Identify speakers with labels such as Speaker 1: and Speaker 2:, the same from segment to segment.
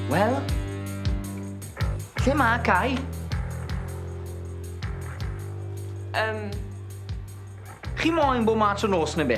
Speaker 1: Wel, lle mae Cai? Um, Chi moyn bod mas o nos neu be?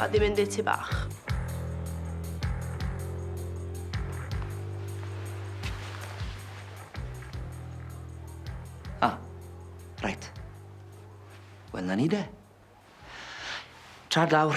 Speaker 1: Mae di mynd i'r tŷ bach. Ah, reit. Wel, 'na ni de. Tra dlawr.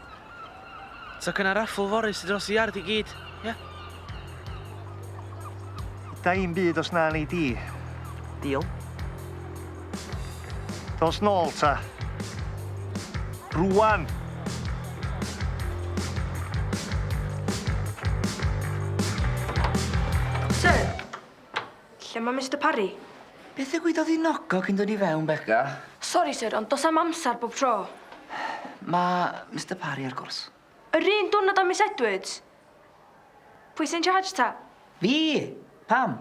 Speaker 1: So gynna raffl fory sy dros y iard i gyd, ia? Da i'm byd os na nei di. Deal. Dos nôl ta. Rwan! Sir! Lle mae Mister Parry? Beth ddigwyddodd i Nogo cyn dod i fewn, Beca? Sori, syr, ond does 'na'm amser bob tro. Mae Mister Parry ar gwrs. Yr un diwrnod â Miss Edwards? Pwy sy'n charge ta? Fi! Pam?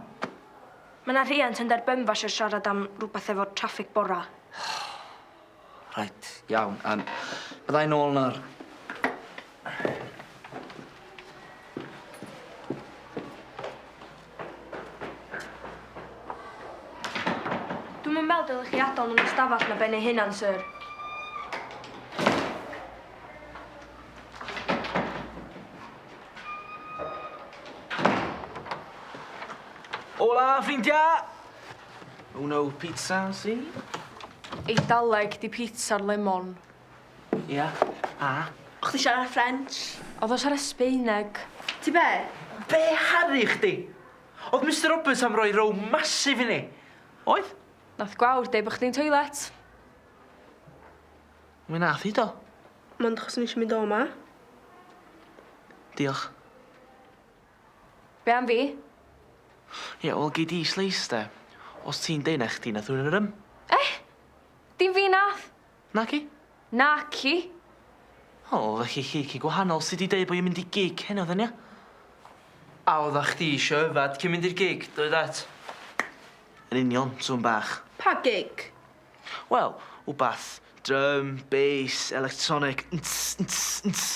Speaker 1: Mae 'na rhiant yn Dderbynfa isio siarad am rhywbeth efo traffig bora. Reit, iawn, yym byddai nôl nawr. Dwi'm yn meddwl dylech chi adael nhw'n y stafell na ben eu hunan, syr. Ola, ffrindia! Uno pizza si? Eidaleg di pizza'r lemon. Ia, a? O' chdi siarad Ffrench? O'dd o'n siarad Sbeineg. Ti be? Be' haru chdi? O'dd Mister Roberts am roi row massive i ni. Oedd? Nath gwawr deu' bo' chdi'n toilet. Mi nath 'i do. Mond achos o'n i isio mynd o 'ma. Diolch. Be' am fi? Ie, wel gei di sleis de. Os ti'n deud na chdi nath run yr ym. Eh! Dim fi nath. Naci? Naci. O, felly chi ci gwahanol sy di deud bo' i'n mynd i gig heno then ia? A odda chdi isio yfad cyn mynd i'r gig, doeddat? Yn union, sŵn bach. Pa gig? Wel, wbath drum, bass, electronic, nts, nts, nts.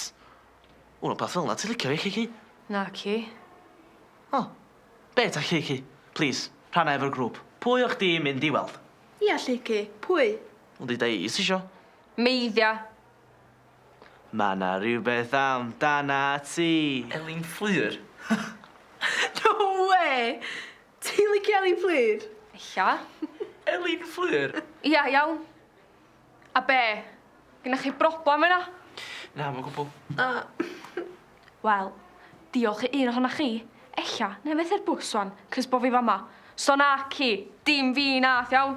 Speaker 1: Wel rwbath fel 'na ti licio fi Kiki? Naci. O! Be' 'ta Kiki? Plîs, rhanna efo'r grŵp. Pwy o' chdi'n mynd i weld? Ia Lleucu, pwy? Wel deuda i os tisio. Meiddia! Ma' 'na rywbeth amdanat ti. Elin Fflur? No wê! Ti'n licio Elin Fflur? Ella. Elin Fflur? Ia, iawn. A be? Gennych chi broblem efo 'na? Na, 'm o gwbwl. Yy wel, diolch i un ohonoch chi, ella, nai fethu'r bws ŵan, 'c'os bo' fi fa' 'ma. So naci, dim fi nath, iawn?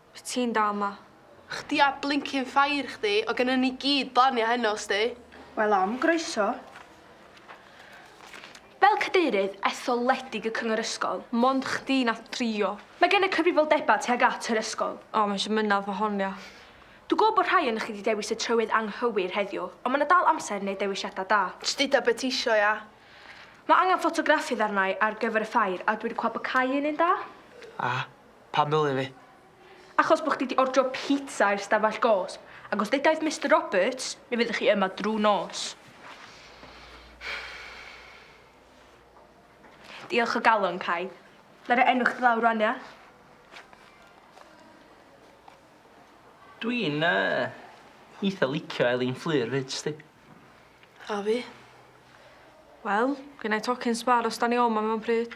Speaker 1: Wyt ti'n da 'ma. Chdi a blincin ffair chdi, o gynnon ni gyd blanio heno sdi. Wel am groeso. Fel cadeirydd etholedig y cyngor ysgol, mond chdi nath drio. Mae gen y cyfrifoldebau tuag at yr ysgol. O, mae eisiau mynedd fo hon, ia. Dwi'n gwybod bod rhai onoch chi 'di dewis y trywydd anghywir heddiw, ond mae 'na dal amser i wneud dewisiadau da. Jyst deutha be ti isio, ia. Mae angen ffotograffi ddarnau ar gyfer y ffair, a dwi 'di clywed bod cau un yn dda. A? Pam ddylia fi? Achos bo chdi 'di ordro pizza i'r stafell gosb, ac os ddeudaidd Mister Roberts, mi fyddech chi yma drw nos. Diolch o galon, Cai. Na roi enw chdi lawr rwan, ia? Dwi'n uh, eitha licio Elin Fflur fyd, sti. A fi. Wel, gynnau tocyn sbar os da ni oma mewn pryd.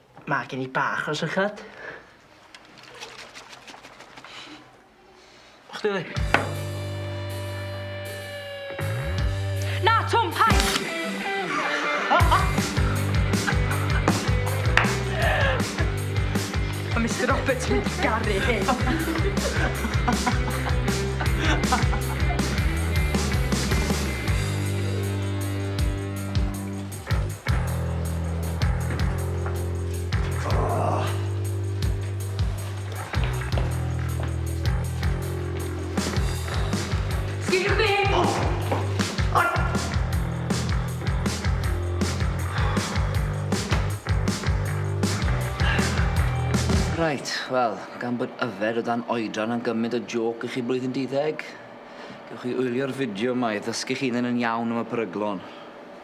Speaker 1: Mae gen i bach o sychad. A chdi ddi? Na, Twm, paid! Mae Mister Roberts yn mynd i garu hyn. Reit, wel, gan bod yfed o dan oedran yn gymryd o jôc i chi blwyddyn di-ddeg, gewch chi wylio'r fideo 'ma i ddysgu'ch hunan yn iawn am y peryglon.